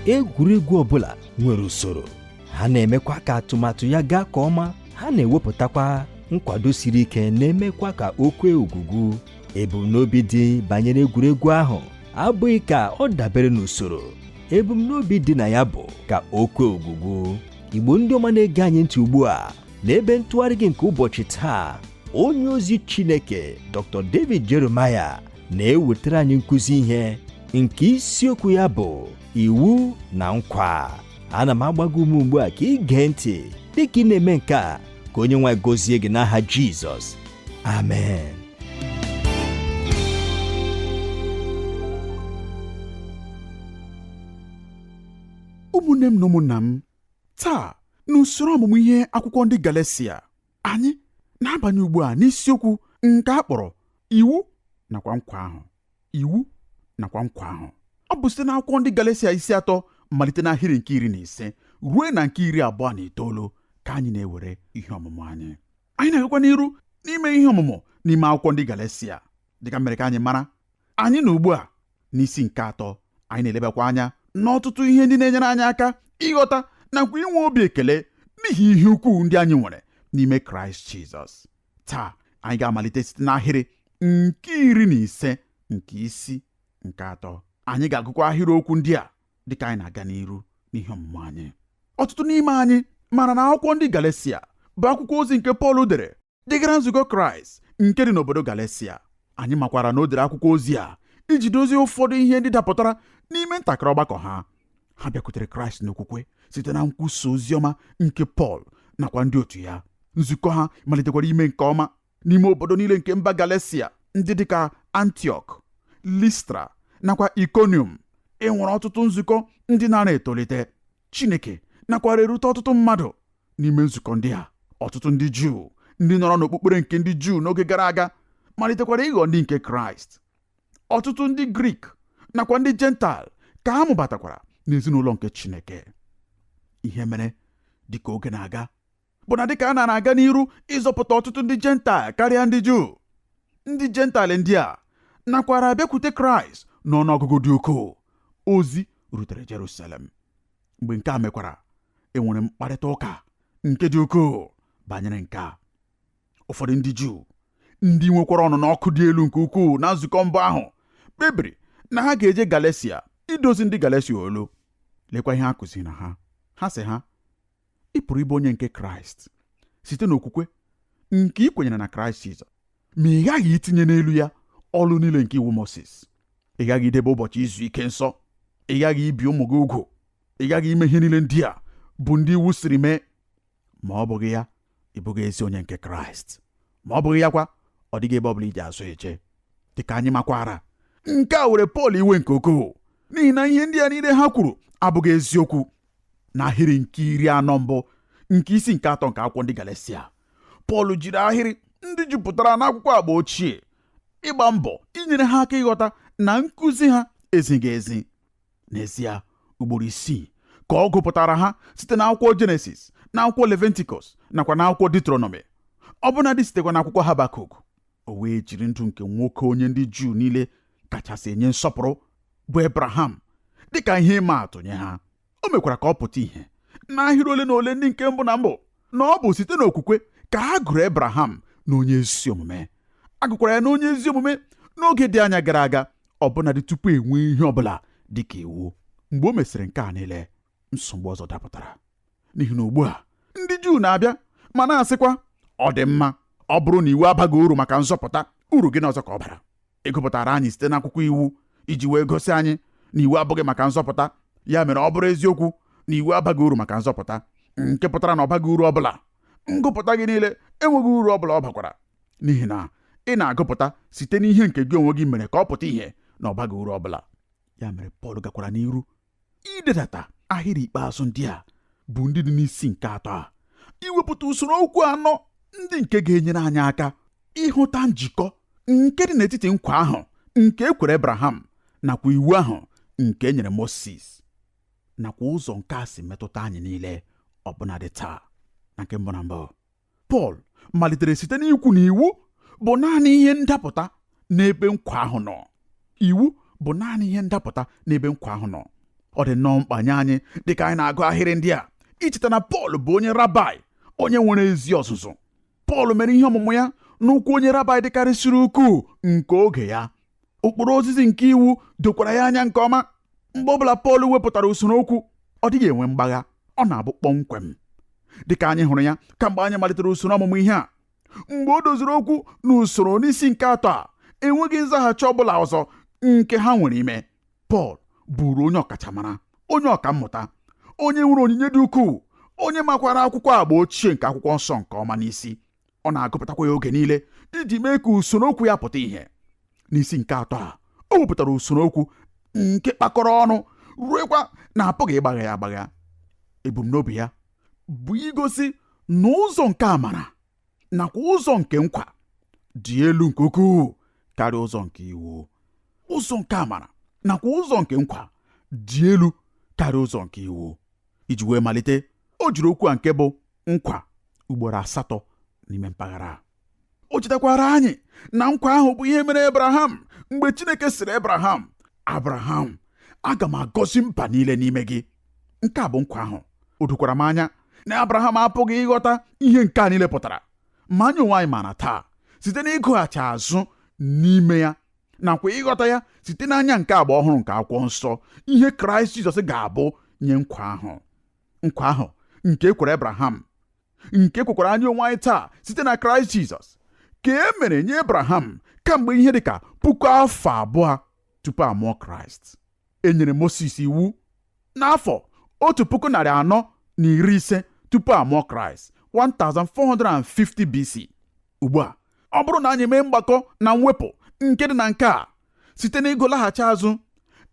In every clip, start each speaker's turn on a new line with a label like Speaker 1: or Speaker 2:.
Speaker 1: egwuregwu ọbụla nwere usoro ha na-emekwa ka atụmatụ ya gaa ka ọma ha na-ewepụtakwa nkwado siri ike na-emekwa ka o kwee ogwugwu ebumnobi dị banyere egwuregwu ahụ abụghị ka ọ dabere n'usoro ebumnobi dị na ya bụ ka o kwee ogwugwu igbo ndị ọma na-ege anyị ntị ugbu a n'ebe ntụgharị gị nke ụbọchị taa onye ozi Chineke Dr. David Jeremiah na-ewetara anyị nkụzi ihe nke isiokwu ya bụ iwu na nkwa ana m agba gị ume ugbu a ka ị gee ntị dịka ị na-eme nke a ka onye nwe anyị gozie gị n'aha Jizọs
Speaker 2: amen ụmụnne m na ụmụnna m Taa, n'usoro ọmụmụ ihe akwụkwọ ndị Galesia, anyị na-abanye ugbu a n'isiokwu nke a kpọrọ iwu nakwa nkwa ahụ iwu nakwa nkwa ahụ ọ bụ site n'akwụkwọ ndị Galesia isi atọ malite n'ahịrị nke iri na ise ruo na nke iri abụọ na itoolu ka anyị na-ewere ihe ọmụmụ anyị anyị na-agakwa n'iru n'ime ihe ọmụmụ n'ime akwụkwọ ndị Galesia dịka m mere ka anyị mara anyị nọ ugbu a n'isi nke atọ anyị na-elebakwa anya n'ọtụtụ ihe ndị na-enyere anyị aka ịghọta nakwa inwe obi ekele n'ihi ihe ukwuu ndị anyị nwere n'ime kraịst jizọs taa anyị ga-amalite site n'ahịrị nke iri na ise nke isi nke atọ anyị ga-agụkwa ahịrị okwu ndị a dịka anyị na-aga n'iru n'ihe ọmụmụ anyị ọtụtụ n'ime anyị mara na akwụkwọ ndị galesia bụ akwụkwọ ozi nke pọl dere degara nzukọ Kraịst nke dị n'obodo Galesia anyị makwara na o dere akwụkwọ ozi a iji dozie ụfọdụ ihe ndị dapụtara n'ime ntakịrị ọgbakọ ha ha bịakwutere Kraịst n'okwukwe site na nkwusa ozi ọma nke Pọl nakwa ndị otu ya nzukọ ha malitekwara ime nke ọma n'ime obodo niile nke mba Galesia ndị dịka Antiọk Listra nakwa Ikonium e nwere ọtụtụ nzukọ ndị nara etolite Chineke nakwara erute ọtụtụ mmadụ n'ime nzukọ ndị a ọtụtụ ndị Juu ndị nọrọ n'okpukpere nke ndị Juu n'oge gara aga malitekwara ịghọ ndị nke Kraịst ọtụtụ ndị Grik nakwa ndị Jentaịl ka a mụbatakwara n'ezinụlọ nke Chineke ihe mere dịka oge na-aga bụ na dịka a nara aga n'iru ịzọpụta ọtụtụ ndị jentaịl karịa ndị juu ndị jentaịl ndị a nakwara abịakwute kraịst n'ọnụọgụgụ dị ukwuu ozi rutere jerusalem mgbe nke a mekwara enwere mkparịta ụka nke dị ukwuu banyere nke a ụfọdụ ndị juu ndị nwekwara ọnụnụ ọkụ dị elu nke ukwuu na nzukọ mbụ ahụ kpebiri na ha ga-eje galesia idozi ndị galesia olu lekwa ihe ha kụziri na ha ha sị ha ị pụrụ ịbụ onye nke kraịst site n'okwukwe nke ị kwenyere na kraịst jizọs ma ị ghaghị itinye n'elu ya ọlụ niile nke iwu moses ị ghaghị idebe ụbọchị izu ike nsọ ị ghaghị ibi ụmụ gị ugwu ị ghaghị ime ihe niile ndị a bụ ndị iwu sịrị mee ma ọ bụghị ya ị bụghị ezi onye nke kraịst ma ọ bụghị ya kwa ọ dịghị ebe ọ bụla iji azụ eje dịka anyị makwara nke a were pọl iwe nke ukwuu n'ihi na ihe ndị a niile ha kwuru abụghị eziokwu n'ahịrị nke iri anọ mbụ nke isi nke atọ nke akwụkwọ ndị Galatia Pọl jiri ahịrị ndị jupụtara n'akwụkwọ agba ochie ịgba mbọ inyere ha aka ịghọta na nkụzi ha ezighi ezi n'ezie ugboro isii ka ọ gụpụtara ha site na akwụkwọ jenesis na akwụkwọ leventikọs nakwa na akwụkwọ detronọmi ọbụnadị sitekwa na akwụkwọ habakuk o wee jiri ndụ nke nwoke onye ndị Juu niile kachasị enye nsọpụrụ bụ Ebraham dị ka ihe ịma atụ nye ha o mekwara ka ọ pụta ìhè n'ahịrị ole na ole ndị nke mbụ na mbụ na ọ bụ site n'okwukwe ka a gụrụ Ebraham na onye ezi omume a gụkwara ya na onye ezi omume n'oge dị anya gara aga ọbụnadị tupu e nwee ihe ọ bụla dị ka iwu mgbe o mesịrị nke a niile nsogbu ọzọ dapụtara n'ihi na ugbu a ndị Juu na-abịa ma na-asịkwa ọ dị mma ọ bụrụ na iwu abaghị uru maka nzọpụta uru gịnị ọzọ ka ọ bara ị gụpụtara anyị site n'akwụkwọ iwu iji wee gosi anyị na iwu abụghị maka nzọpụta ya mere ọ bụrụ eziokwu na iwu abaghị uru maka nzọpụta nke pụtara na ọ baghị uru ọbụla ngụpụta gị niile enweghị uru ọbụla ọ bakwara n'ihi na ị na-agụpụta site n'ihe nke gị onwe gị mere ka ọ pụta ìhè na ọ baghị uru ọbụla ya mere Pọl gakwara n'iru idedata ahịrị ikpeazụ ndị a bụ ndị dị n'isi nke atọ a iwepụta usoro okwu anọ ndị nke ga-enyere anyị aka ịhụta njikọ nke dị n'etiti nkwa ahụ nke e kwere Abraham nakwa iwu ahụ nke e nyere Moses nakwa ụzọ nke a si metụta anyị niile ọbụnadị taa na nke mbụ na mbụ Pọl malitere site n'ikwu na iwu bụ naanị ihe ndapụta n'ebe nkwa ahụ nọ iwu bụ naanị ihe ndapụta n'ebe nkwa ahụ nọ ọ dị nnọọ mkpa nye anyị dịka anyị na-agụ ahịrị ndị a icheta na Pọl bụ onye rabai onye nwere ezi ọzụzụ Pọl mere ihe ọmụmụ ya n'ụkwụ onye rabai dịkarịsịrị ukwuu nke oge ya ụkpụrụ ozizi nke iwu dokwara ya anya nke ọma mgbe ọbụla Pọl wepụtara usoro okwu ọ dịghị enwe mgbagha ọ na-abụ kpọmkwem dịka anyị hụrụ ya kamgbe anyị malitere usoro ọmụmụ ihe a mgbe o doziri okwu n'usoro n'isi nke atọ a enweghị nzaghachi ọ bụla ọzọ nke ha nwere ime Pọl bụụrụ onye ọkachamara onye ọkammụta onye nwere onyinye dị ukwuu onye makwara akwụkwọ agba ochie nke akwụkwọ nsọ nke ọma n'isi ọ na-agụpụtakwa ya oge niile iji mee ka usoro okwu ya pụta ìhè n'isi nke atọ a o wepụtara usoro okwu nke kpakọrọ ọnụ ruekwa na a pụghị ịgbagha ya agbagha ebumnobi ya bụ igosi na ụzọ nke amara nakwa ụzọ nke nkwa dị elu nke ukwuu karịa ụzọ nke iwu ụzọ nke amara nakwa ụzọ nke nkwa dị elu karịa ụzọ nke iwu iji wee malite o jiri okwu a nke bụ nkwa ugboro asatọ n'ime mpaghara a o chetakwaara anyị na nkwa ahụ bụ ihe e mere Abraham mgbe Chineke sịrị Abraham Abraham aga m agọzi mba niile n'ime gị nke a bụ nkwa ahụ o dokwara m anya na Abraham apụghị ịghọta ihe nke a niile pụtara ma anyị onwe anyị maara taa site n'ịgụghachi azụ n'ime ya nakwa ịghọta ya site n'anya nke agba ọhụrụ nke akwụkwọ nsọ ihe kraịst jizọs ga-abụ nye nkwa ahụ nkwa ahụ nke e kwere abraham nke e kwekwara anyị onwe anyị taa site na kraịst jizọs ka e mere nye abraham kamgbe ihe dị ka puku afọ abụọ tupu a mụọ kraịst e nyere moses iwu N'afọ otu puku narị anọ na iri ise tupu a mụọ Kraịst 1450 BC ugbu a ọ bụrụ na anyị mee mgbakọ na mwepụ nke dị na nke a site n'ịgụ laghachi azụ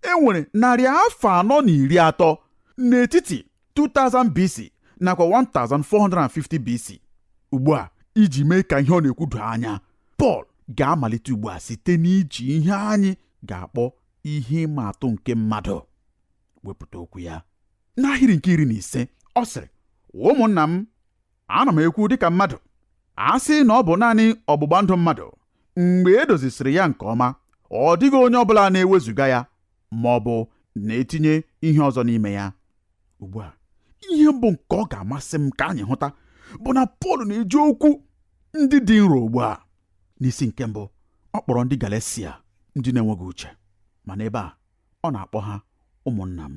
Speaker 2: e nwere narị afọ anọ na iri atọ n'etiti 2000 BC nakwa 1450 BC ugbu a iji mee ka ihe ọ na-ekwu doo anya Pọl ga-amalite ugbu a site n'iji ihe anyị ga-akpọ ihe ịma atụ nke mmadụ wepụta okwu ya n'ahịrị nke iri na ise ọ sịrị ụmụnna m ana m ekwu dịka mmadụ a sị na ọ bụ naanị ọgbụgba ndụ mmadụ mgbe e dozisịrị ya nke ọma ọ dịghị onye ọbụla na-ewezuga ya ma ọ bụ na-etinye ihe ọzọ n'ime ya ugbu a ihe mbụ nke ọ ga-amasị m ka anyị hụta bụ na Pọl na-eji okwu ndị dị nro ugbu a n'isi nke mbụ ọ kpọrọ ndị Galesia ndị na-enweghị uche ma n'ebe a ọ na-akpọ ha ụmụnna m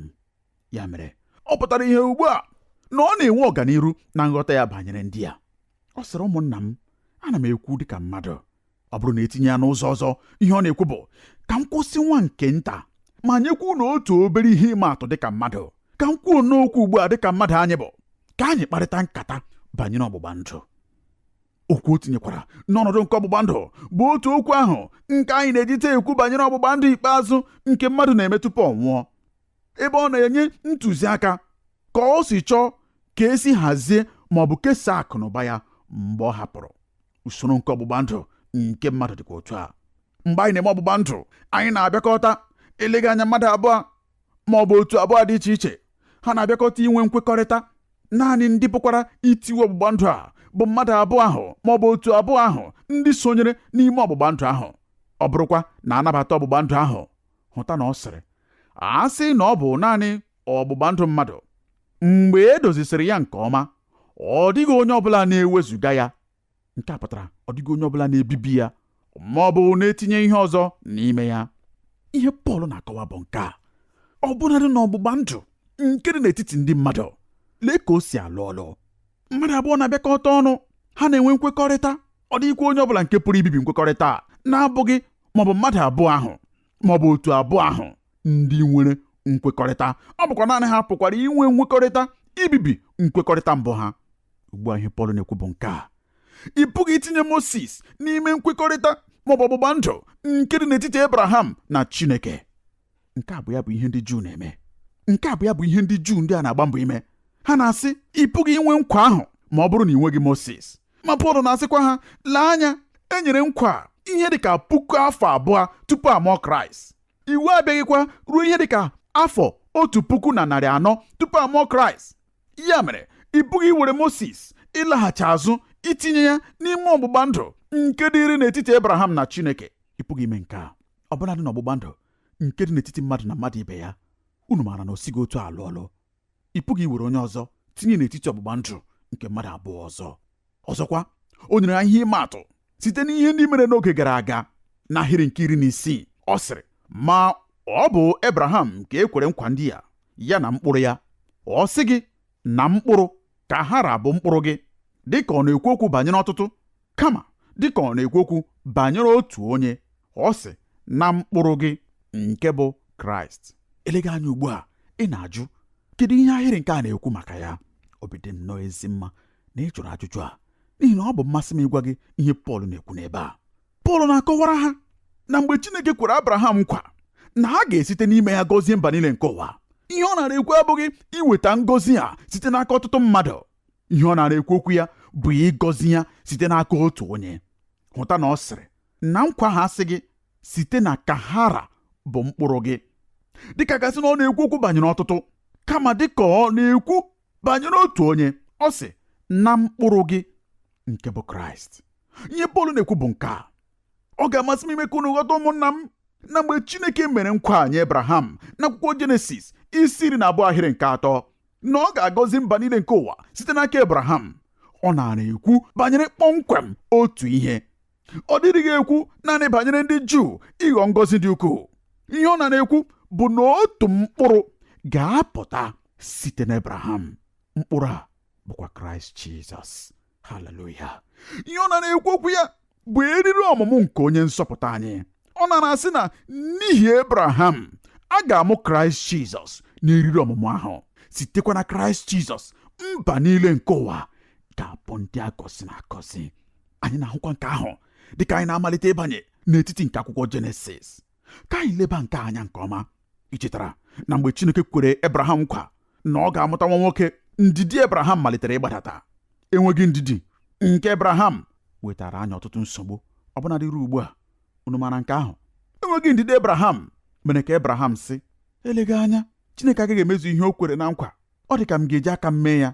Speaker 2: ya mere ọ pụtara ìhè ugbu a na ọ na-enwe ọganiru na nghọta ya banyere ndị a ọ sịrị ụmụnna m ana m ekwu dịka mmadụ ọ bụrụ na e tinye ya n'ụzọ ọzọ ihe ọ na-ekwu bụ ka m kwụsị nwa nke nta ma nyekwa unu otu obere ihe ịma atụ dịka mmadụ ka m kwuo n'okwu ugbu a dịka mmadụ anyị bụ ka anyị kparịta nkata banyere ọgbụgba ndụ okwu o tinyekwara n'ọnọdụ nke ọgbụgba ndụ bụ otu okwu ahụ nke anyị na-ejite ekwu banyere ọgbụgba ndụ ikpeazụ nke mmadụ na-eme tupu ọ nwụọ ebe ọ na-enye ntụziaka ka o si chọọ ka e si hazie ma ọ bụ kesaa akụ na ụba ya mgbe ọ hapụrụ usoro nke ọgbụgba ndụ nke mmadụ dịkwa otu a mgbe anyị na-eme ọgbụgba ndụ anyị na-abịakọta eleghị anya mmadụ abụọ ma ọ bụ otu abụọ dị iche iche ha na-abịakọta inwe nkwekọrịta naanị ndị pụkwara itiwe ọgbụgba ndụ a bụ mmadụ abụọ ahụ ma ọ bụ otu abụọ ahụ ndị sonyere n'ime ọgbụgba ndụ ahụ ọ bụrụkwa na a nabata ọgbụgba ndụ ahụ hụta na ọ sịrị a sị na ọ bụ naanị ọgbụgba ndụ mmadụ mgbe e dozisịrị ya nke ọma ọ dịghị onye ọbụla na-ewezuga ya nke a pụtara ọ dịghị onye ọbụla na-ebibi ya ma ọ bụ na-etinye ihe ọzọ n'ime ya ihe Pọl na-akọwa bụ nke a ọ bụnadị n'ọgbụgba ndụ nke dị n'etiti ndị mmadụ lee ka o si alụ ọlụ mmadụ abụọ na-abịakọta ọnụ ha na-enwe nkwekọrịta ọ dịghịkwa onye ọbụla nke pụrụ ibibi nkwekọrịta a na-abụghị maọbụ mmadụ abụọ ahụ maọbụ otu abụọ ahụ ndị nwere nkwekọrịta ọ bụkwa naanị ha pụkwara inwe nkwekọrịta ibibi nkwekọrịta mbụ ha ugbu a ihe Pọl na-ekwu bụ nke a ị pụghị itinye Mosis n'ime nkwekọrịta maọbụ ọgbụgba ndụ nke dị n'etiti Abraham na Chineke nke a bụ ya bụ ihe ndị Juu na-eme nke a bụ ya bụ ihe ndị Juu ndị a na-agba mbọ ime ha na-asị ị pụghị inwe nkwa ahụ ma ọ bụrụ na ị nweghị Mosis ma Pọl na-asịkwa ha lee anya e nyere nkwa ihe dị ka puku afọ abụọ tupu a mụọ Kraịst iwu abịaghịkwa ruo ihe dị ka afọ otu puku na narị anọ tupu a mụọ Kraịst ya mere ị pụghị iwere Mosis ịlaghachi azụ itinye ya n'ime ọgbụgba ndụ nke dịrị n'etiti Abraham na Chineke ị pụghị ime nke a ọbụladị n'ọgbụgba ndụ nke dị n'etiti mmadụ na mmadụ ibe ya unu maara na o sighị otu a alụ ọlụ ị pụghị iwere onye ọzọ tinye n'etiti ọgbụgba ndụ nke mmadụ abụọ ọzọ ọzọkwa o nyere anyị ihe ịma atụ site n'ihe ndị mere n'oge gara aga n'ahịrị nke iri na isii ọ sịrị ma ọ bụ Abraham ka e kwere nkwa ndị a ya na mkpụrụ ya ọ sịghị na mkpụrụ ka ha ra bụ mkpụrụ gị dịka ọ na-ekwu okwu banyere ọtụtụ kama dịka ọ na-ekwu okwu banyere otu onye ọ sị na mkpụrụ gị nke bụ kraịst eleghị anya ugbu a ị na-ajụ kedu ihe ahịrị nke a na-ekwu maka ya obi dị m nnọọ ezi mma na ị jụrụ ajụjụ a n'ihi na ọ bụ mmasị m ịgwa gị ihe Pọl na-ekwu n'ebe a Pọl na-akọwara ha na mgbe Chineke kwere Abraham nkwa na a ga-esite n'ime ya gọzie mba niile nke ụwa ihe ọ naara ekwu abụghị iweta ngọzi a site n'aka ọtụtụ mmadụ ihe ọ naara ekwu okwu ya bụ ịgọzi ya site n'aka otu onye hụta na ọ sịrị na nkwa ahụ asịghị site na ka ha ra bụ mkpụrụ gị dịka a ga-asị na ọ na-ekwu okwu banyere ọtụtụ kama dịka ọ na-ekwu banyere otu onye ọ sị na mkpụrụ gị nke bụ kraịst ihe pọl na-ekwu bụ nke a ọ ga-amasị m ime ka unu ghọta ụmụnna m na mgbe chineke mere nkwa nye abraham n'akwụkwọ jenesis isi iri na abụọ ahịrị nke atọ na ọ ga-agọzi mba niile nke ụwa site n'aka abraham ọ naara ekwu banyere kpọmkwem otu ihe ọ dịrịghị ekwu naanị banyere ndị Juu ịghọ ngọzi dị ukwuu ihe ọ nara ekwu bụ na otu mkpụrụ ga-apụta site n'Abraham mkpụrụ a bụkwa Kraịst Jizọs haleluya ihe ọ nara ekwu okwu ya bụ eriri ọmụmụ nke onye nzọpụta anyị ọ nara asị na n'ihi Abraham a ga-amụ Kraịst Jizọs n'eriri ọmụmụ ahụ sitekwa na Kraịst Jizọs mba niile nke ụwa ga-abụ ndị a gọziri agọzi anyị na-ahụkwa nke ahụ dị ka anyị na-amalite ịbanye n'etiti nke akwụkwọ jenesis ka anyị leba nke a anya nke ọma i chetara na mgbe chineke kwere ebraham nkwa na ọ ga-amụta nwa nwoke ndidi ebraham malitere ịgbadata enweghị ndidi nke ebraham wetara anyị ọtụtụ nsogbu ọbụnadị ruo ugbu a unu maara nke ahụ enweghị ndidi ebraham mere ka ebraham sị eleghị anya chineke agaghị emezu ihe o kwere na nkwa ọ dị ka m ga-eji aka m mee ya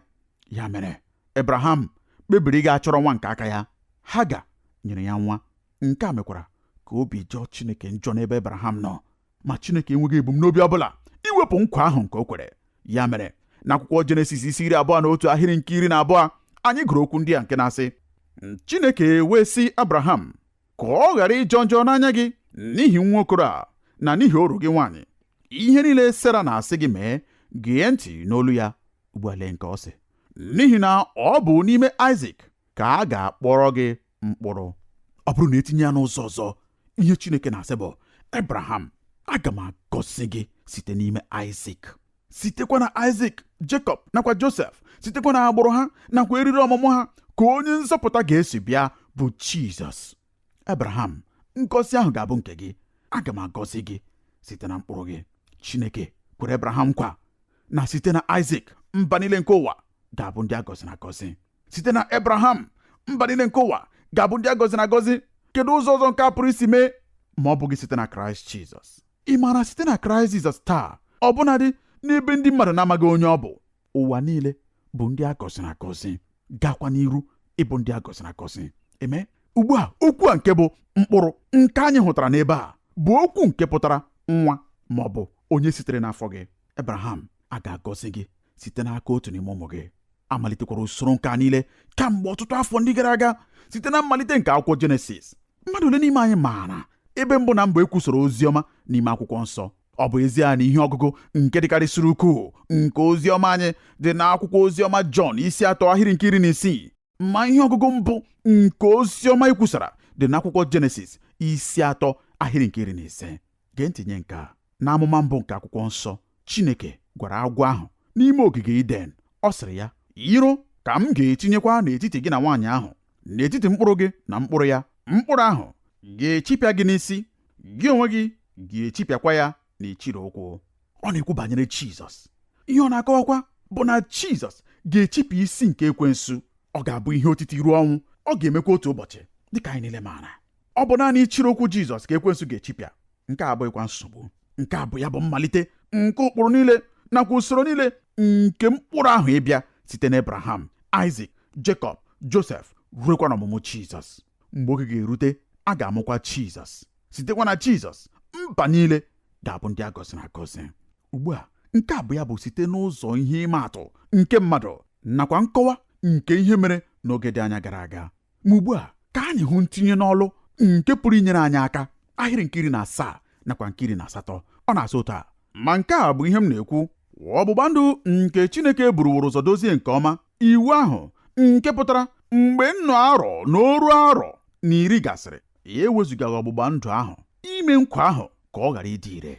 Speaker 2: ya mere ebraham kpebiri ịga achọrọ nwa nke aka ya haga nyere ya nwa nke a mekwara ka obi jọọ chineke njọ n'ebe ebraham nọ ma chineke enweghị ebumnobi ọ bụla iwepụ nkwa ahụ nke o kwere ya mere n'akwụkwọ jenesis isi iri abụọ na otu ahịrị nke iri na abụọ anyị gụrụ okwu ndị a nke na-asị chineke wee sị abraham ka ọ ghara ịjọ njọ n'anya gị n'ihi nwa okoro a na n'ihi oru gị nwaanyị ihe niile sera na-asị gị mee gee ntị n'olu ya ugbu a lee nke ọ sị n'ihi na ọ bụ n'ime Aịzik ka a ga-akpọrọ gị mkpụrụ ọ bụrụ na etinye ya n'ụzọ ọzọ ihe Chineke na-asị bụ Abraham aga m agọzi gị site n'ime Aịzik sitekwa na Aịzik Jekọb nakwa Josef sitekwa na agbụrụ ha nakwa eriri ọmụmụ ha ka onye nzọpụta ga-esi bịa bụ Jizọs Abraham ngọzi ahụ ga-abụ nke gị aga m agọzi gị site na mkpụrụ gị Chineke kwere Abraham nkwa na site na Aịzik mba niile nke ụwa ga-abụ ndị a gọziri agọzi site na Abraham mba niile nke ụwa ga-abụ ndị a gọziri agọzi kedu ụzọ ọzọ nke a pụrụ isi mee ma ọ bụghị site na Kraịst Jizọs ị maara site na kraịst jizọs taa ọbụnadị n'ebe ndị mmadụ na-amaghị onye ọ bụ ụwa niile bụ ndị a gọziri agọzi gakwa n'iru ịbụ ndị a gọziri agọzi amen ugbu a okwu a nke bụ mkpụrụ nke anyị hụtara n'ebe a bụ okwu nke pụtara nwa ma ọ bụ onye sitere n'afọ gị ebraham a ga-agọzi gị site n'aka otu n'ime ụmụ gị amalitekwara usoro nke a niile kamgbe ọtụtụ afọ ndị gara aga site na mmalite nke akwụkwọ jenesis mmadụ ole n'ime anyị maara ebe mbụ na mbụ ekwusara ozi ọma n'ime akwụkwọ nsọ ọ bụ ezie na ihe ọgụgụ nke dịkarịsịrị ukwuu nke ozi ọma anyị dị n'akwụkwọ ozi ọma jọn isi atọ ahịrị nke iri na isii ma ihe ọgụgụ mbụ nke ozi ọma ekwusara dị n'akwụkwọ jenesis isi atọ ahịrị nke iri na ise Gee ntị nye nke a. N'amụma mbụ nke akwụkwọ nsọ, Chineke gwara agwọ ahụ n'ime ogige Iden, ọ sịrị ya, Iro ka m ga-etinyekwa n'etiti gị na nwaanyị ahụ, n'etiti mkpụrụ gị na mkpụrụ ya, mkpụrụ ahụ ga-echipịa gị n'isi, gị onwe gị ga-echipịakwa ya n'ichiri ụkwụ. Ọ na-ekwu banyere Jizọs. Ihe ọ na-akọwakwa bụ na Jizọs ga-echipịa isi nke ekwensu. Ọ ga-abụ ihe otiti ruo ọnwụ, ọ ga-emekwa otu ụbọchị, dịka anyị niile maara. ọ bụ naanị ichiri ụkwụ jizọs ka ekwensu ga-echipịa nke a abụghịkwa nsogbu nke a bụ ya bụ mmalite nke ụkpụrụ niile nakwa usoro niile nke mkpụrụ ahụ ịbịa site na abraham aịzik jekọb josef ruekwa n'ọmụmụ jizọs mgbe oge ga-erute a ga-amụkwa jizọs sitekwa na jizọs mba niile ga-abụ ndị a gọziri agọzi ugbu a nke a bụ ya bụ site n'ụzọ ihe ịma atụ nke mmadụ nakwa nkọwa nke ihe mere n'oge dị anya gara aga ma ugbu a ka anyị hụ ntinye n'ọlụ nke pụrụ inyere anyị aka ahịrị nke iri na asaa nakwa nke iri na asatọ ọ na-asị otu a ma nke a bụ ihe m na-ekwu ọgbụgba ndụ nke Chineke buruworo ụzọ dozie nke ọma iwu ahụ nke pụtara mgbe nnụ arọ na oru arọ na iri gasịrị ya ewezugaghị ọgbụgba ndụ ahụ ime nkwa ahụ ka ọ ghara ịdị ire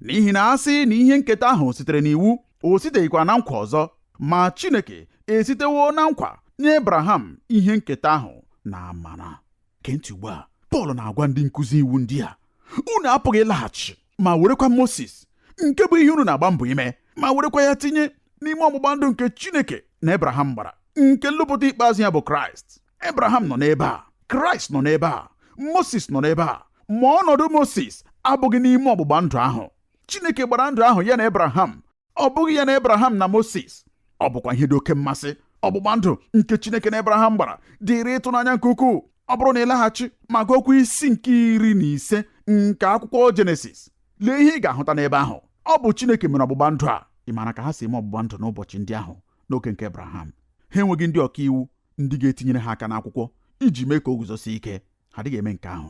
Speaker 2: n'ihi na a sị na ihe nketa ahụ sitere n'iwu o siteghịkwa na nkwa ọzọ ma Chineke esitewo na nkwa nye Abraham ihe nketa ahụ n'amara gee ntị ugbu a Pọl na-agwa ndị nkụzi iwu ndị a unu apụghị ịlaghachi ma werekwa Moses nke bụ ihe unu na-agba mbọ ime ma werekwa ya tinye n'ime ọgbụgba ndụ nke Chineke na Abraham gbara nke nlụpụta ikpeazụ ya bụ Kraịst Abraham nọ n'ebe a Kraịst nọ n'ebe a Moses nọ n'ebe a ma ọnọdụ Moses abụghị n'ime ọgbụgba ndụ ahụ Chineke gbara ndụ ahụ ya na Abraham ọ bụghị ya na Abraham na Moses ọ bụkwa ihe dị oke mmasị ọgbụgba ndụ nke Chineke na Abraham gbara dịrị ịtụnanya nke ukwuu ọ bụrụ na ị laghachi ma gụọkwa isi nke iri na ise nke akwụkwọ Jenesis lee ihe ị ga-ahụta n'ebe ahụ ọ bụ Chineke mere ọgbụgba ndụ a ị maara ka ha si eme ọgbụgba ndụ n'ụbọchị ndị ahụ n'oge nke Abraham ha enweghị ndị ọka iwu ndị ga-etinyere ha aka n'akwụkwọ iji mee ka o guzosie ike ha adịghị eme nke ahụ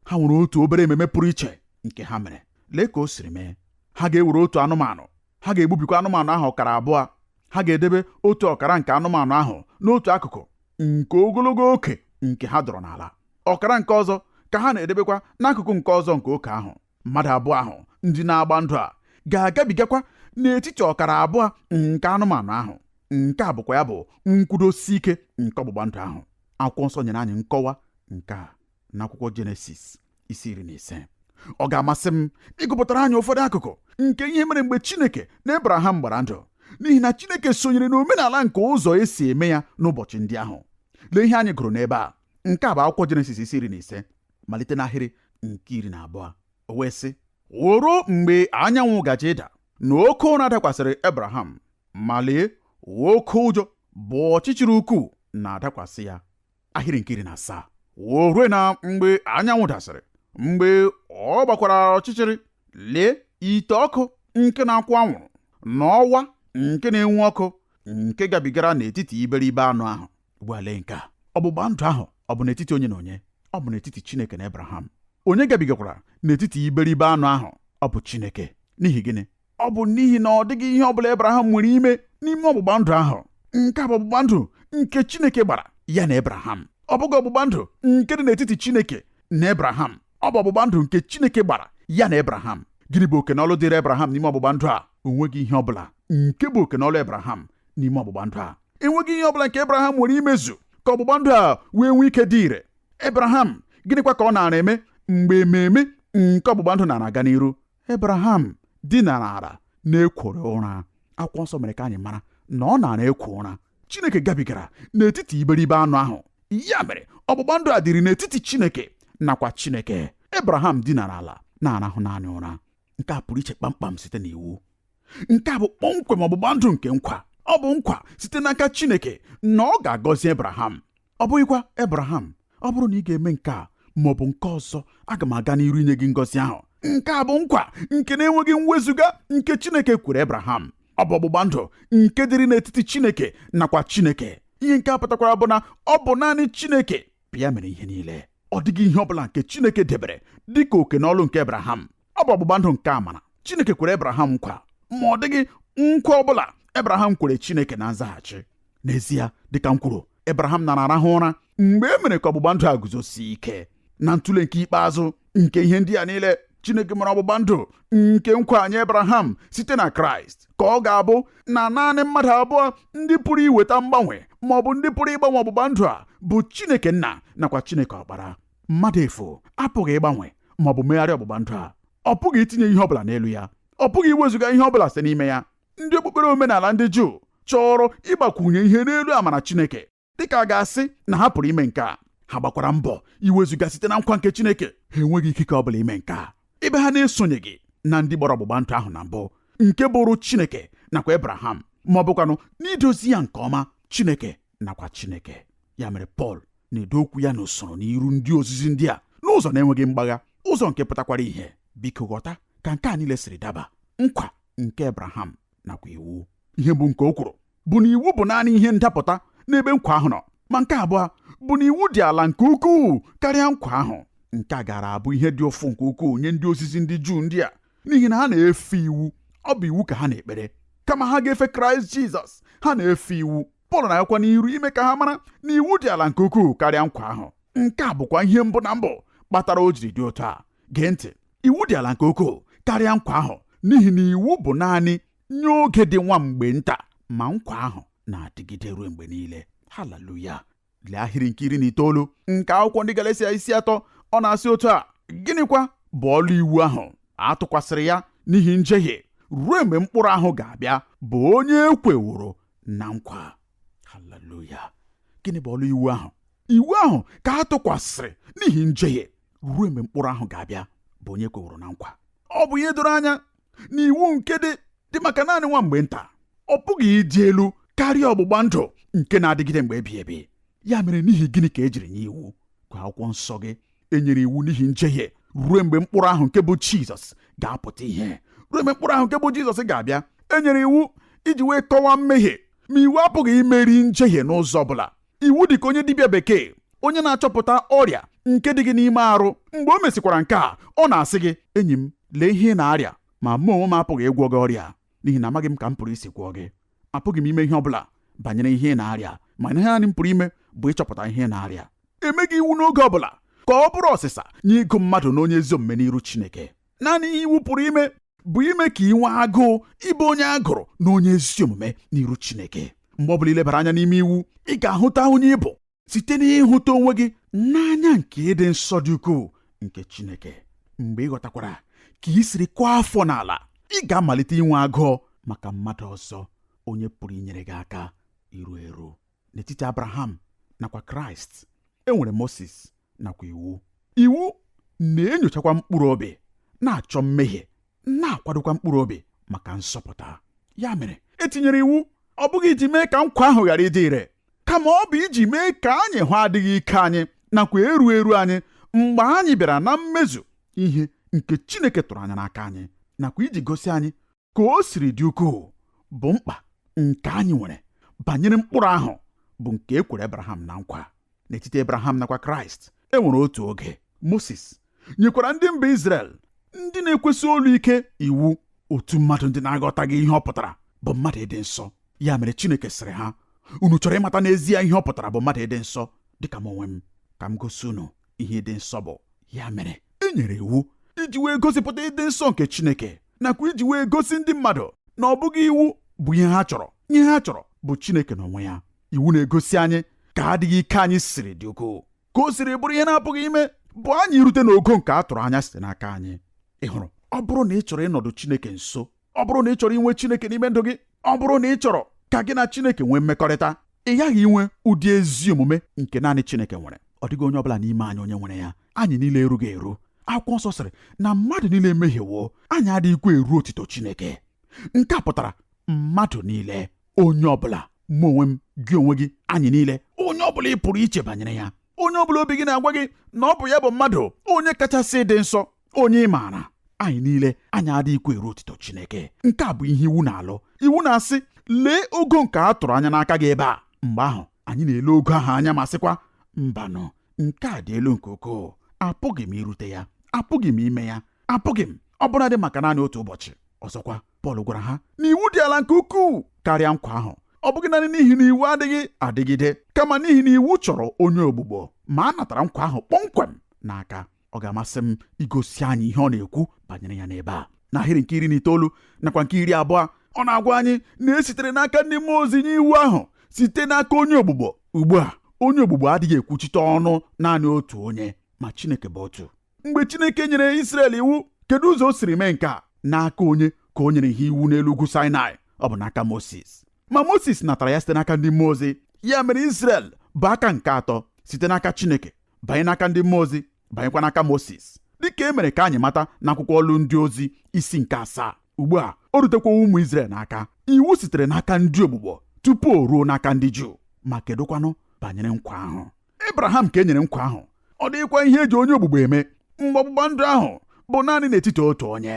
Speaker 2: ha nwere otu obere ememe pụrụ iche nke ha mere lee ka o siri mee ha ga-ewere otu anụmanụ ha ga-egbubikwa anụmanụ ahụ ọkara abụọ ha ga-edebe otu ọkara nke anụmanụ ahụ n'otu akụkụ nke ogologo oke nke ha dọrọ n'ala ọkara nke ọzọ ka ha na-edebekwa n'akụkụ nke ọzọ nke oke ahụ mmadụ abụọ ahụ ndị na-agba ndụ a ga-agabigakwa n'etiti ọkara abụọ nke anụmanụ ahụ nke a bụkwa ya bụ nkwudosi ike nke ọgbụgba ndụ ahụ akwụkwọ nsọ nyere anyị nkọwa nke a n'akwụkwọ jenesis isi iri na ise ọ ga-amasị m ịgụpụtara anyị ụfọdụ akụkụ nke ihe mere mgbe chineke na ebraham gbara ndụ n'ihi na chineke sonyere n'omenala nke ụzọ e si eme ya n'ụbọchị ndị ahụ lee ihe anyị gụrụ n'ebe a nke a bụ akwụkwọ jenesis isi iri na ise malite n'ahịrị nke iri na abụọ o wee sị o ruo mgbe anyanwụ gaje ịda na oke ụra dakwasịrị Abraham ma lee oke ụjọ bụ ọchịchịrị ukwuu na-adakwasị ya ahịrị nke iri na asaa o rue na mgbe anyanwụ dasịrị mgbe ọ gbakwara ọchịchịrị lee ite ọkụ nke na-akwụ anwụrụ na ọwa nke na-enwu ọkụ nke gabigara n'etiti iberibe anụ ahụ ugbu a lee nke a ọgbụgba ndụ ahụ ọ bụ n'etiti onye na onye ọ bụ n'etiti Chineke na Abraham onye gabigakwara n'etiti iberibe anụ ahụ ọ bụ Chineke n'ihi gịnị ọ bụ n'ihi na ọ dịghị ihe ọ bụla Abraham nwere ime n'ime ọgbụgba ndụ ahụ nke a bụ ọgbụgba ndụ nke Chineke gbara ya na Abraham ọ bụghị ọgbụgba ndụ nke dị n'etiti Chineke na Abraham ọ bụ ọgbụgba ndụ nke Chineke gbara ya na Abraham gịnị bụ oke na ọlụ dịrị Abraham n'ime ọgbụgba ndụ a o nweghị ihe ọ bụla nke bụ oke na ọlụ Abraham n'ime ọgbụgba ndụ a enweghị ihe ọ bụla nke ebraham nwere imezu ka ọgbụgba ndụ a wee nwee ike dị ire ebraham gịnịkwa ka ọ naara eme mgbe ememe nke ọgbụgba ndụ naara aga n'iru ebraham dinara ala na-ekworo ụra akwụkwọ nsọ mere ka anyị mara na ọ naara ekwo ụra chineke gabigara n'etiti iberibe anụ ahụ ya mere ọgbụgba ndụ a dịrị n'etiti chineke nakwa chineke ebraham dinara ala na-arahụ naanị ụra nke a pụrụ iche kpamkpam site n'iwu nke a bụ kpọmkwem ọgbụgba ndụ nke nkwa ọ bụ nkwa site n'aka Chineke na ọ ga-agọzi Ebraham ọ bụghịkwa Ebraham ọ bụrụ na ị ga-eme nke a ma ọ bụ nke ọzọ aga m aga n'iru inye gị ngọzi ahụ nke a bụ nkwa nke na-enweghị mwezuga nke Chineke kwere Ebraham ọ bụ ọgbụgba ndụ nke dịrị n'etiti Chineke nakwa Chineke ihe nke a pụtakwara bụ na ọ bụ naanị Chineke bụ ya mere ihe niile ọ dịghị ihe ọ bụla nke Chineke debere dịka oke na ọlụ nke Ebraham ọ bụ ọgbụgba ndụ nke amara Chineke kwere Abraham nkwa ma ọ dịghị nkwa ọ bụla Abraham kwere Chineke na nzaghachi n'ezie dịka m kwuru Abraham nara arahụ ụra mgbe e mere ka ọgbụgba ndụ a guzosie ike na ntụle nke ikpeazụ nke ihe ndị a niile Chineke mere ọgbụgba ndụ nke nkwa nye Abraham site na Kraịst ka ọ ga-abụ na naanị mmadụ abụọ ndị pụrụ iweta mgbanwe ma ọ bụ ndị pụrụ ịgbanwe ọgbụgba ndụ a bụ Chineke nna nakwa Chineke ọkpara mmadụ efu apụghị ịgbanwe ma ọ bụ megharịa ọgbụgba ndụ a ọ pụghị itinye ihe ọ bụla n'elu ya ọ pụghị iwezuga ihe ọ bụla site n'ime ya ndị okpukpere omenala ndị Juu chọrọ ịgbakwunye ihe n'elu amara Chineke dịka a ga-asị na ha pụrụ ime nke a ha gbakwara mbọ iwezuga site na nkwa nke Chineke ha enweghị ikike ọ bụla ime nke a ebe ha na-esonyeghị na ndị gbara ọgbụgba ndụ ahụ na mbụ nke bụrụ Chineke nakwa Ebraham ma ọ bụkwanụ n'idozi ya nke ọma Chineke nakwa Chineke ya mere Pọl na-edo okwu ya n'usoro n'iru ndị ozizi ndị a n'ụzọ na-enweghị mgbagha ụzọ nke pụtakwara ihe biko ghọta ka nke a niile siri daba nkwa nke Abraham nakwa iwu ihe bụ nke o kwuru bụ na iwu bụ naanị ihe ndapụta n'ebe nkwa ahụ nọ ma nke abụọ bụ na iwu dị ala nke ukwuu karịa nkwa ahụ nke a gaara abụ ihe dị ụfụ nke ukwuu nye ndị ozizi ndị Juu ndị a n'ihi na ha na-efe iwu ọ bụ iwu ka ha na-ekpere kama ha ga-efe kraịst jizọs ha na-efe iwu pọl na-agakwa n'iru ime ka ha mara na iwu dị ala nke ukwuu karịa nkwa ahụ nke a bụkwa ihe mbụ na mbụ kpatara o jiri dị otu a gee ntị iwu dị ala nke ukwuu karịa nkwa ahụ n'ihi na iwu bụ naanị nye oge dị nwa mgbe nta ma nkwa ahụ na-adịgide ruo mgbe niile haleluya lee ahịrị nke iri na itoolu nke akwụkwọ ndị Galatia isi atọ ọ na-asị otu a gịnịkwa bụ ọlụ iwu ahụ a tụkwasịrị ya n'ihi njehie ruo mgbe mkpụrụ ahụ ga-abịa bụ onye e kweworo na nkwa haleluya gịnị bụ ọlụ iwu ahụ iwu ahụ ka a tụkwasịrị n'ihi njehie ruo mgbe mkpụrụ ahụ ga-abịa bụ onye e kweworo na nkwa ọ bụ ihe doro anya na iwu nke dị dị maka naanị nwa mgbe nta ọ pụghị ịdị elu karịa ọgbụgba ndụ nke na-adịgide mgbe ebighị ebi ya mere n'ihi gịnị ka e jiri nye iwu gụọ akwụkwọ nsọ gị e nyere iwu n'ihi njehie ruo mgbe mkpụrụ ahụ nke bụ jizọs ga-apụta ihe ruo mgbe mkpụrụ ahụ nke bụ jizọs ga-abịa e nyere iwu iji wee kọwaa mmehie ma iwu apụghị imeri njehie n'ụzọ ọ bụla iwu dị ka onye dibịa bekee onye na-achọpụta ọrịa nke dị gị n'ime arụ mgbe o mesịkwara nke a ọ na-asị gị enyi m lee ihe ị na-arịa ma mụ onwe m apụghị ịgwọ gị ọrịa n'ihi na amaghị m ka m pụrụ isi gwọọ gị apụghị m ime ihe ọ bụla banyere ihe ị na-arịa ma ihe naanị m pụrụ ime bụ ịchọpụta ihe ị na-arịa emeghị iwu n'oge ọ bụla ka ọ bụrụ ọsịsa nye ịgụ mmadụ na onye ezi omume n'iru Chineke naanị ihe iwu pụrụ ime bụ ime ka ị nwee agụụ ịbụ onye a gụrụ na onye ezi omume n'iru Chineke mgbe ọ bụla i lebara anya n'ime iwu ị ga-ahụta onye ị bụ site n'ịhụta onwe gị n'anya nke ịdị nsọ dị ukwuu nke Chineke mgbe ị ghọtakwara ka ị siri kụọ afọ n'ala ị ga-amalite inwe agụụ maka mmadụ ọzọ onye pụrụ inyere gị aka iru eru n'etiti abraham nakwa kraịst e nwere moses nakwa iwu iwu na-enyochakwa mkpụrụ obi na-achọ mmehie na-akwadokwa mkpụrụ obi maka nzọpụta ya mere e tinyere iwu ọ bụghị iji mee ka nkwa ahụ ghara ịdị ire kama ọ bụ iji mee ka anyị hụ adịghị ike anyị nakwa eru eru anyị mgbe anyị bịara na mmezu ihe nke Chineke tụrụ anya n'aka anyị nakwa iji gosi anyị ka o siri dị ukwuu bụ mkpa nke anyị nwere banyere mkpụrụ ahụ bụ nke e kwere Abraham na nkwa n'etiti Abraham nakwa Kraịst e nwere otu oge Moses nyekwara ndị mba Izrel ndị na-ekwesị olu ike iwu otu mmadụ ndị na-aghọtaghị ihe ọ pụtara bụ mmadụ ịdị nsọ ya mere Chineke sịrị ha unu chọrọ ịmata n'ezie ihe ọ pụtara bụ mmadụ ịdị nsọ dịka m onwe m ka m gosi unu ihe ịdị nsọ bụ ya mere e nyere iwu iji wee gosipụta ịdị nsọ nke Chineke nakwa iji wee gosi ndị mmadụ na ọ bụghị iwu bụ ihe ha chọrọ ihe ha chọrọ bụ Chineke n'onwe ya iwu na-egosi anyị ka adịghị ike anyị siri dị ukwuu ka o siri bụrụ ihe na-apụghị ime bụ anyị irute n'ogo nke a tụrụ anya site n'aka anyị ị hụrụ ọ bụrụ na ị chọrọ ịnọdụ Chineke nso ọ bụrụ na ị chọrọ inwe Chineke n'ime ndụ gị ọ bụrụ na ị chọrọ ka gị na Chineke nwee mmekọrịta ị ghaghị inwe ụdị ezi omume nke naanị Chineke nwere ọ dịghị onye ọbụla n'ime anyị onye nwere ya anyị niile erughị eru akwụkwọ nsọ sịrị na mmadụ niile emehiewo anyị adịghịkwa eru otito Chineke nke a pụtara mmadụ niile onye ọbụla mụ onwe m gị onwe gị anyị niile onye ọbụla ị pụrụ iche banyere ya onye ọbụla obi gị na-agwa gị na ọ bụ ya bụ mmadụ onye kachasị dị nsọ onye ị maara anyị niile anyị adịghịkwa eru otito Chineke nke a bụ ihe iwu na-alụ iwu na-asị lee ogo nke a tụrụ anya n'aka gị ebe a mgbe ahụ anyị na-ele ogo ahụ anya ma sịkwa mbanụ nke a dị elu nke ukwuu apụghị m irute ya apụghị m ime ya apụghị m ọbụladị maka naanị otu ụbọchị ọzọkwa Pọl gwara ha na iwu dị ala nke ukwuu karịa nkwa ahụ ọ bụghị naanị n'ihi na iwu adịghị adịgide kama n'ihi na iwu chọrọ onye ogbugbo ma a natara nkwa ahụ kpọmkwem n'aka ọ ga-amasị m igosi anyị ihe ọ na-ekwu banyere ya n'ebe a n'ahịrị nke iri na itoolu nakwa nke iri abụọ ọ na-agwa anyị na e sitere n'aka ndị mmụọ ozi nye iwu ahụ site n'aka onye ogbugbo ugbu a onye ogbugbo adịghị ekwuchite ọnụ naanị otu onye ma Chineke bụ otu mgbe Chineke nyere Israel iwu kedu ụzọ o siri mee nke a n'aka onye ka o nyere ha iwu n'elu ugwu Sinai ọ bụ n'aka Moses ma Moses natara ya site n'aka ndị mmụọ ozi ya mere Israel bụ aka nke atọ site n'aka Chineke banye n'aka ndị mmụọ ozi banyekwa n'aka Moses dịka e mere ka anyị mata n'akwụkwọ ọlụ ndị ozi isi nke asaa ugbu a o rutekwa ụmụ Izrel n'aka iwu sitere n'aka ndị ogbugbo tupu o ruo n'aka ndị Juu ma kedụkwanụ banyere nkwa ahụ Abraham ka e nyere nkwa ahụ ọ dịghịkwa ihe e ji onye ogbugbo eme mgbe ọgbụgba ndụ ahụ bụ naanị n'etiti otu onye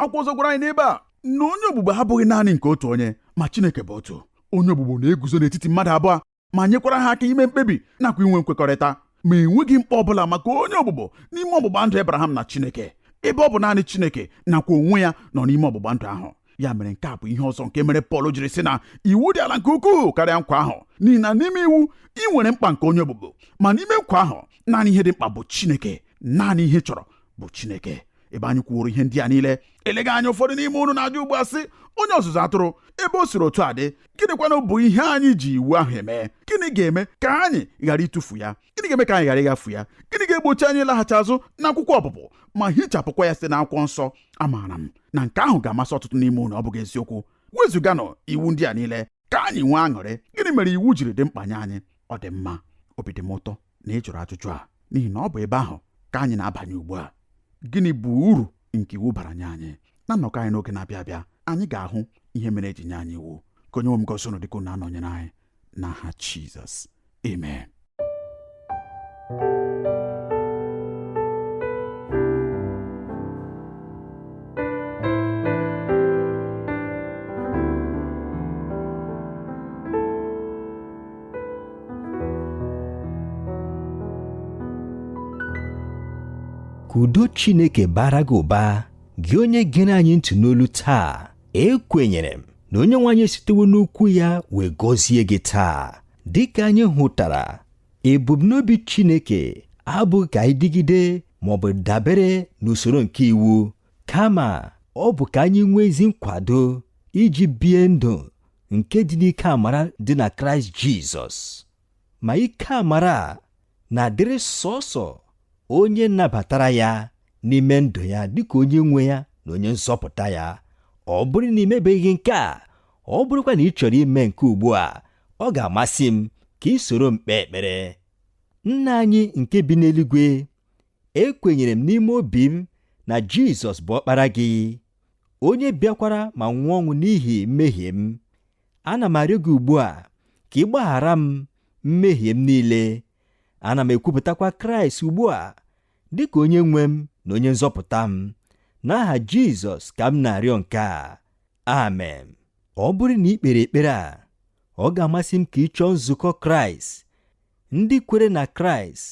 Speaker 2: akwụkwọ nsọ gwara anyị n'ebe a na onye ogbugbo abụghị naanị nke otu onye ma Chineke bụ otu onye ogbugbo na-eguzo n'etiti mmadụ abụọ ma nyekwara ha aka ime mkpebi nakwa inwe nkwekọrịta ma enweghị mkpa ọ bụla maka onye ogbugbo n'ime ọgbụgba ndụ Abraham na Chineke ebe ọ bụ naanị Chineke nakwa onwe ya nọ n'ime ọgbụgba ndụ ahụ ya mere nke a bụ ihe ọzọ nke mere Pọl jiri sị na iwu dị ala nke ukwuu karịa nkwa ahụ n'ihi na n'ime iwu i nwere mkpa nke onye ogbugbo ma n'ime nkwa ahụ naanị ihe dị mkpa bụ Chineke naanị ihe ị chọrọ bụ Chineke ebe anyị kwuoro ihe ndị a niile eleghị anya ụfọdụ n'ime unu na-ajụ ugbu a sị onye ọzụzụ atụrụ ebe o siri otu a dị gịnịkwanụ bụ ihe anyị ji iwu ahụ eme gịnị ga-eme ka anyị ghara ịtụfu ya gịnị ga-eme ka anyị ghara ịghafu ya gịnị ga-egbochi anyị ịlaghachi azụ n'akwụkwọ ọpụpụ ma hichapụkwa ya site n'akwụkwọ nsọ amaara m na nke ahụ ga-amasị ọtụtụ n'ime unu ọ bụghị eziokwu wezụganụ iwu ndị a niile ka anyị nwee aṅụrị gịnị mere iwu jiri dị mkpa nye anyị ọ dị mma obi dị m ụtọ na ị jụrụ ajụjụ a n'ihi na ọ bụ ebe ahụ ka anyị na-abanye ugbu a gịnị bụ uru nke iwu bara nye anyị na nnọkọ anyị n'oge na-abịa abịa anyị ga-ahụ ihe mere e ji nye anyị iwu ka onye nwe m gọzie unu dịka unu na-anọnyere anyị n'aha Jizọs amen
Speaker 1: ka udo Chineke baara gị ụba gị onye gere anyị ntị n'olu taa ekwenyere m na onye nwe anyị esitewo n'okwu ya wee gọzie gị taa dịka anyị hụtara ebumnobi Chineke abụghị ka anyị dịgide ma ọ bụ dabere n'usoro nke iwu kama ọ bụ ka anyị nwee ezi nkwado iji bie ndụ nke dị n'ike amara dị na kraịst jizọs ma ike amara a na-adịrị sọsọ onye nabatara ya n'ime ndụ ya dịka onye nwe ya na onye nzọpụta ya ọ bụrụ na i mebeghị nke a ọ bụrụkwa na ị chọrọ ime nke ugbu a ọ ga-amasị m ka i soro m kpee ekpere nna anyị nke bi n'eluigwe ekwenyere m n'ime obi m na Jizọs bụ ọkpara gị onye bịakwara ma nwụọ ọnwụ n'ihi mmehie m ana m arịọ gị ugbu a ka ị gbaghara m mmehie m niile ana m ekwupụtakwa Kraịst ugbu a dị ka onye nwe m na onye nzọpụta m n'aha Jizọs ka m na-arịọ nke a amen ọ bụrụ na i kpere ekpere a ọ ga-amasị m ka ị chọọ nzukọ Kraịst ndị kwere na Kraịst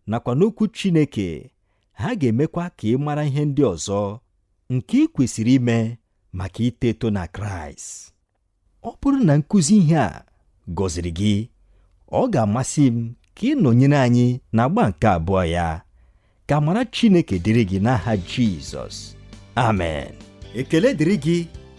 Speaker 1: nakwa n'Okwu Chineke, ha ga-emekwa ka ị mara ihe ndị ọzọ nke i kwesịrị ime maka ito eto na Kraịst. Ọ bụrụ na nkụzi ihe a gọziri gị, ọ ga-amasị m ka ị nọnyere anyị n'agba nke abụọ ya. Ka amara Chineke dịrị gị n'aha Jizọs. Amen. Ekele dịrị gị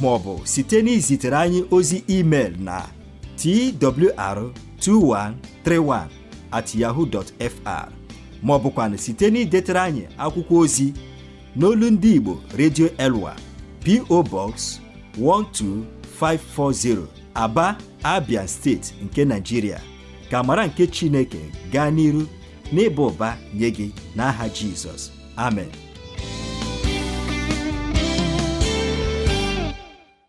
Speaker 1: ma ọ bụ site n'izitere anyị ozi email na twr2131 at yahoo dot fr ma ọ bụkwanụ site n'idetere anyị akwụkwọ ozi n'olu ndị Igbo Radio Elwa PO Box 12540 Aba Abia steeti nke Nigeria ka amara nke Chineke gaa n'iru n'ịba ụba nye gị n'aha Jizọs amen